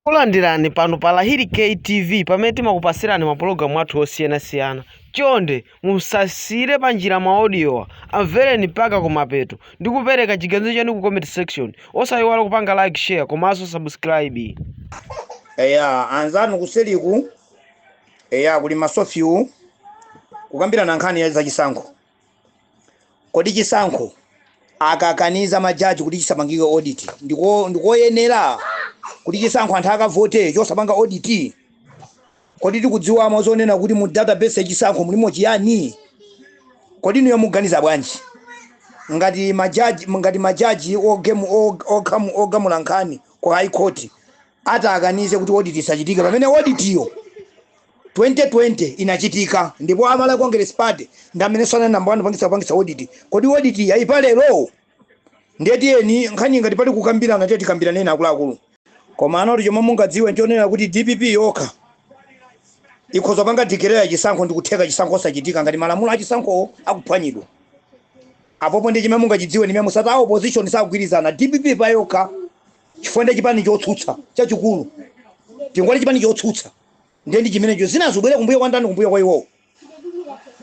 Takulandirani pano pa Lahiri K TV pamene timakupasirani mapulogalamu athu osiyanasiyana. Chonde musasiyire panjira maodiowa, amvereni mpaka kumapeto ndi kupereka chiganizo chanu ku comment section. Osayiwala kupanga like, share komanso subscribe. Eya, anzanu kuseliku, eya kuli masofawo kukambirana nkhani ya zachisankho. Kodi chisankho akakaniza ma judge kuti chisapangike audit ndi koyenera kuti chisankho anthu akavote chosapanga audit? Kodi tikudziwamo zonena kuti mu database ya chisankho mulimo chiyani? Kodi inuyo mukuganiza bwanji? Ngati ma judge ngati ma judge ogamula nkhani ku high court atakanize kuti audit isachitike pamene audit yo 2020 inachitika ndipo a Malawi Congress Party ndi amene anali number 1 kupangitsa kupangitsa audit. Kodi audit yi ayipa lero? Ndiye tiyeni nkhani ngati pali kukambirana tiye tikambiraneni akuluakulu. Koma kuti chomwe mungadziwe nchonena kuti dpp yokha ikhoza kupanga declare chisankho ndi kutheka chisankho osachitika ngati malamulo a chisankhowo akuphwanyidwa. Apopo ndiye chimene mungachidziwe ndi mene musati a opposition sakugwirizana dpp payokha chifukwa ndi chipani chotsutsa chachikulu tikati chipani chotsutsa ndiye ndi chimenecho zinazo zobwera kumbuyo kwa ndani kumbuyo kwa iwowo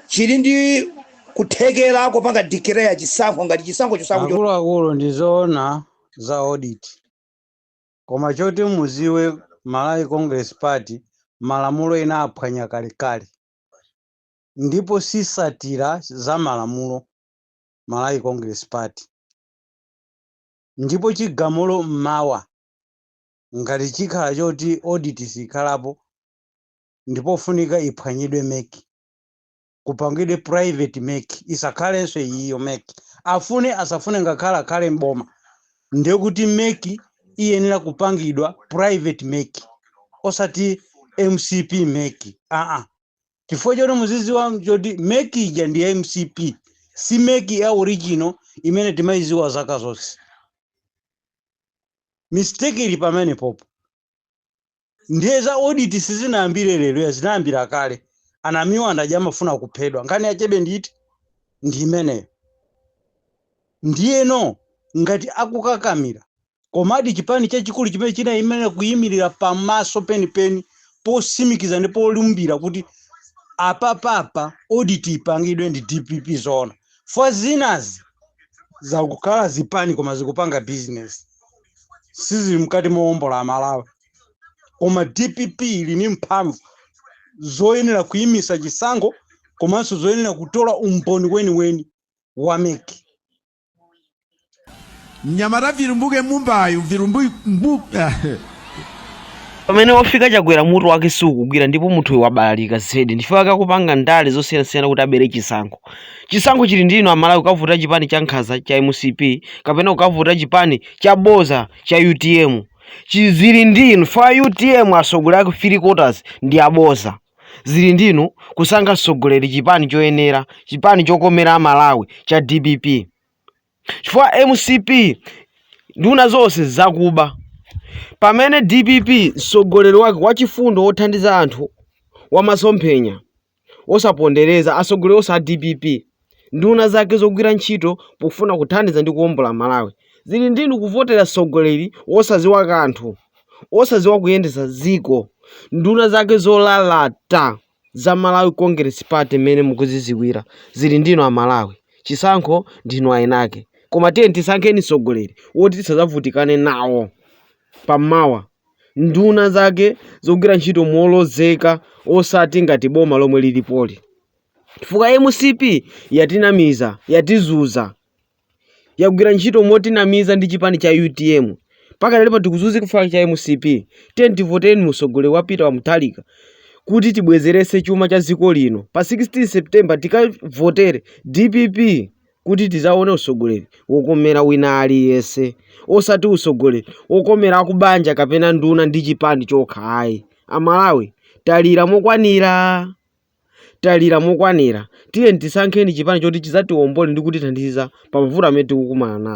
chili ndi kuthekera kopanga declare chisankho ngati chisankho chosankho cho- akuluakulu ndi zoona za audit koma choti muziwe malawi congress party malamulo inaphwanya kalekale ndipo sisatira za malamulo malawi congress party Ndipo chigamulo mmawa, ngati chikhala choti audit siyikhalapo, ndi pofunika iphwanyidwe mec, kupangidwe private mec, isakhalenso iyiyo mec. Afune asafune ngakhale akhale m'boma, ndi kuti mec iyenera kupangidwa private mec, osati mcp mec, aa. chifukwa choti muziziwa choti meki ija ndi ya mcp si meki ya original imene timayiziwa zaka zonse mistake ili pameneopo ndiye za audit sizinayambire lero ayi zinayambira kale Namiwa paja amafuna kuphedwa nkhani yachebe nditi ndi imeneyo ndiyeno ngati akukakamira Komadi chipani chachikulu chimene chinayenera kuyimirira pamaso penipeni posimikiza ndi polumbira kuti apapapa audit ipangidwe ndi dpp zoona chifukwa zinazi zikukhala zipani koma zikupanga business sizili mkati mowombola amalawi koma dpp ili ni mphamvu zoyenera kuyimisa chisankho komanso zoyenera kutola umboni weniweni wa mec mnyamata virumbuke mumbayu virumbu mbu ah, pamene wafika chakwera mutu wake siukugwira ndipo munthu uyu wabalalika zedi ndi chifukwa chake akupanga ndale zosiyanasiyana kuti abere chisankho chisankho chili ndi inu amalawi kukavotera chipani cha nkhaza cha mcp kapena kukavotera chipani cha boza cha utm zili ndi inu chifukwa utm atsogoleri ake three quarters ndi aboza zili ndi inu kusankha mtsogoleri chipani choyenera chipani chokomera amalawi cha dpp chifukwa mcp nduna zonse zakuba pamene dpp mtsogoleri wake wachifundo wothandiza anthu wamasomphenya wosapondereza atsogoleri onse a dpp nduna zake zogwira ntchito pofuna kuthandiza ndi kuwombola Malawi zili ndi inu kuvotera mtsogoleri wosadziwa kanthu, wosadziwa kuyendetsa dziko, nduna zake zolalata za Malawi Congress Party mmene mukuzidziwira zili ndi inu Amalawi. Chisankho ndi inu eni ake koma tiyeni tisankheni mtsogoleri woti tisadzavutikane nawo pamawa, nduna zake zogwira ntchito molozeka osati ngati boma lomwe lilipoli. chifukwa mcp yatinamiza, yatizuza, yagwira ntchito motinamiza ndi chipani cha utm mpaka lero tikuzuzika chifukwa cha mcp tiyeni tivoteni msogoleri wa peter wa mutharika kuti tibwezerese chuma cha dziko lino pa 16 september tikavotere dpp kuti tizaone usogoleri wokomera wina aliyense osati usogoleri wokomera akubanja kapena nduna ndi chipani chokha ayi amalawi talira mokwanira Talira mokwanira. Tiyeni tisankheni chipani choti chidzatiombole ndi kutithandiza pa mavuto amene tikukumana nawo.